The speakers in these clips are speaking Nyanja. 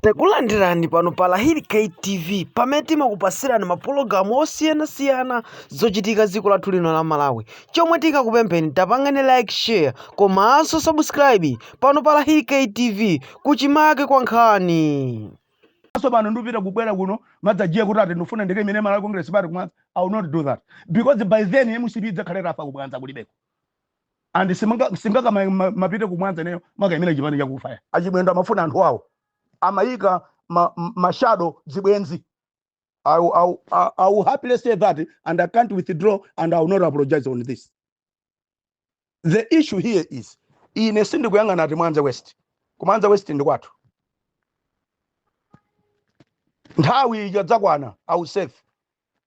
Takulandirani pano pa Lahiri K TV pamene timakupatsirani mapulogalamu osiyanasiyana zochitika dziko lathu lino la Malawi. Chomwe tingakupempheni tapangani like share komanso subscribe pano pa Lahiri K TV kuchimake kwa nkhani. Anso pano ndikupita kubwera kuno mmadzanja kuti ati ndifuna ndikaimire Malawi Congress Party ku Mwanza. I will not do that because by then MCP idzakhala itafa ku Mwanza kulibeko. and simunga- singakamapite ku Mwanza ineyo kumakayimira chipani chakufa a Chimwendo amafuna anthu awo amayika ma- m- mashado zibwenzi and I, will- I, will- I, I will happily say that and I can't withdraw and I will not apologize on this. The issue here is ine sindikuyang'ana ati Mwanza West. Ku Mwanza West ndi kwathu. Nthawi ija dzakwana I will serve.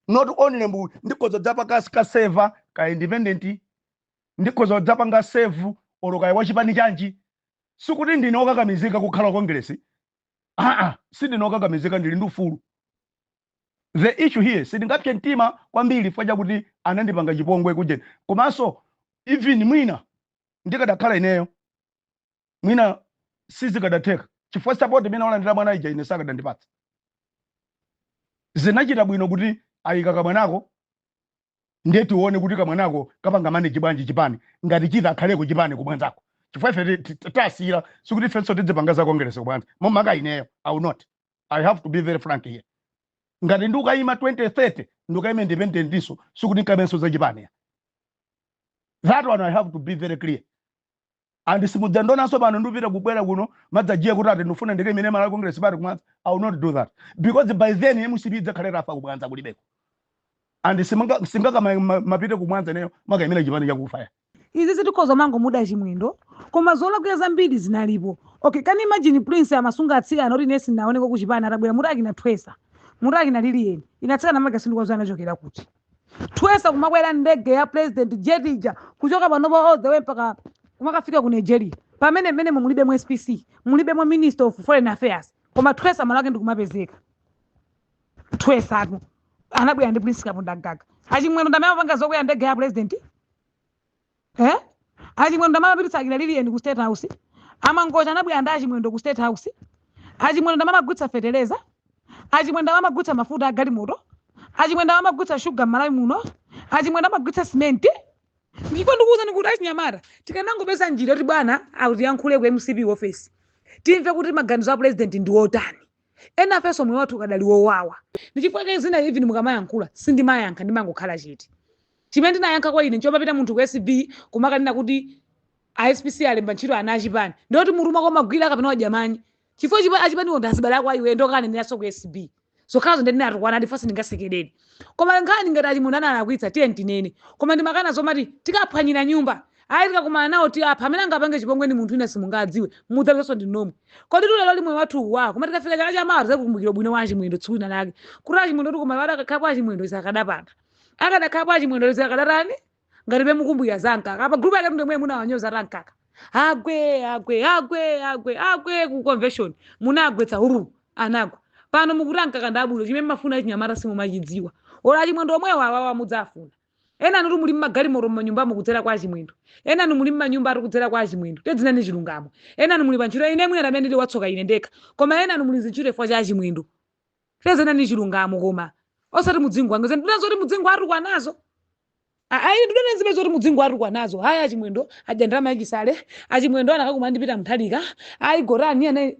not only MP ndikhoza dzapa ka ka serve ka independent ndikhoza dzapanga serve olo kaya wachipani chanji sikuti ndine okakamizika kukhala wa kongresi aa sindine okakamizika ndili ndi ufulu the issue here sindingapse mtima kwambiri chifukwa chakuti anandipanga chipongwe kujeni komanso even mwina ndikadakhala ineyo mwina sizikadatheka chifukwa sapoti imene walandira mwana uja ine sakadandipatsa zinachita bwino kuti ayika kamwanako ndiye tione kuti kamwanako kapanga manage bwanji chipani ngati chitha akhaleko chipani ku Mwanzako chifukwa ife tasiyira sikuti ifenso tidzipanga za kongeresi ku Mwanza makamaka ineyo i will not i have to be very frank here ngati ndikayima 2030 ndikayima independent ndiso sikuti nkamenso za chipani that one i have to be very clear and simudzandionanso pano ndikupita kubwera kuno mmadzanja kuti ati ndifuna ndikaimire malawi congress party ku Mwanza i will not do that because by then mcp idzakhala itafa ku Mwanza kulibeko and simunga- singakama ma- mapite ku Mwanza ineyo kumakaimira chipani chakufa ayi sitikhoza kumangomuda chimwendo koma zolakwira zambiri zinalipo okay can you imagine prince amasunga atsikana oti ine sinaoneko kuchipani atabwera muti akinathwesa muti akinaliliyeni ndi atsikana makasindikwazana anachokera kuti twesa kumakwera ndege ya president jet ija kuchoka panopa all the way mpaka kumakafika ku nigeria pamene mmene mulibe mu spc mulibe mu minister of foreign affairs koma twesa malo ake ndikumapezeka twesatu anabwera ndi prince kapondamgaga achimwendo ndi amene amapanga zokwera ndege ya president eh achimwendo amapititsa akira liliyeni ku state house amangocha anabwera ndi achimwendo ku state house achimwendo amamagulitsa feteleza achimwendo amamagulitsa mafuta agalimoto achimwendo amamagulitsa shuga m'malawi muno achimwendo amagulitsa simenti ndipo ndikuwuzani kuti achinyamata tikanangopeza njira yoti bwana atiyankhule ku mcp office timve kuti maganizo a president ndi otani Enafe moyo wathu ukadali wowawa. Ndi chifukwa chake zina even mukamayankhula sindimayankha ndimangokhala chete. Chimene ndinayankha kwa ine nchomapita munthu ku ACB kumakanena kuti a SPC alemba ntchito ana achipani. Ndiye kuti mutu mwako mumagwira kapena wadya manyi? Chifukwa chipani, achipaniwo ndi azibale ako a iweyo ndiye ukakanenera so ku ACB. Zokhazo ndiye ndinatukwanadi chifukwa sindingasekerere. koma nkhani ngati achimwendo analakwitsa tiyeni tinene koma ndimakana zomati tikaphwanyira nyumba ayi tikakumana nawo tiapha amene angapange chipongwe ndi munthu wina simungadziwe mudzapezanso ndi nomwe kodi tili lero ndi moyo wathu uwa koma tikafika chaka cha mawa tizakukumbukira ubwino wa achimwendo tsiku lina lake kuti achimwendo tikumanena kuti akakhala kwa achimwendo izi akadapanga akadakhala kwa achimwendo izi akadatani ngatibe mukukumbukira za mkaka apa group yake ndinu munawanyoza a mkaka agwe agwe agwe agwe agwe ku convention munagwetsa huru anagwa pano mukuti mkaka ndabulo chimene mumafuna achinyamata simumachidziwa ola achimwendo omwewo awawa mudzafuna enanu muli mumagalimoto mumanyumba kudzera kwa achimwendo enanu muli mumanyumba ali kudzera kwa achimwendo tadzinenani chilungamo enanu muli pantchito ine mwina amene ndili watsoka ine ndekha koma enanu muli m'zintchito chifukwa cha achimwendo Tadzinenani chilungamo koma osati mudzingopanga zija zoti mudzingowatukwanazo. A- Ayi ndikunena zimene zoti mudzingowatukwanazo. Ayi achimwendo adya ndalama ya Chisale. Achimwendo anakakumana ndi Peter Mutharika. Ayi Kodi nanga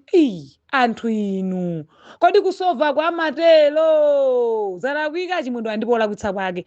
anthu inu. Kodi kusova kwa matero zalakwika achimwendo andipo olakwitsa kwake.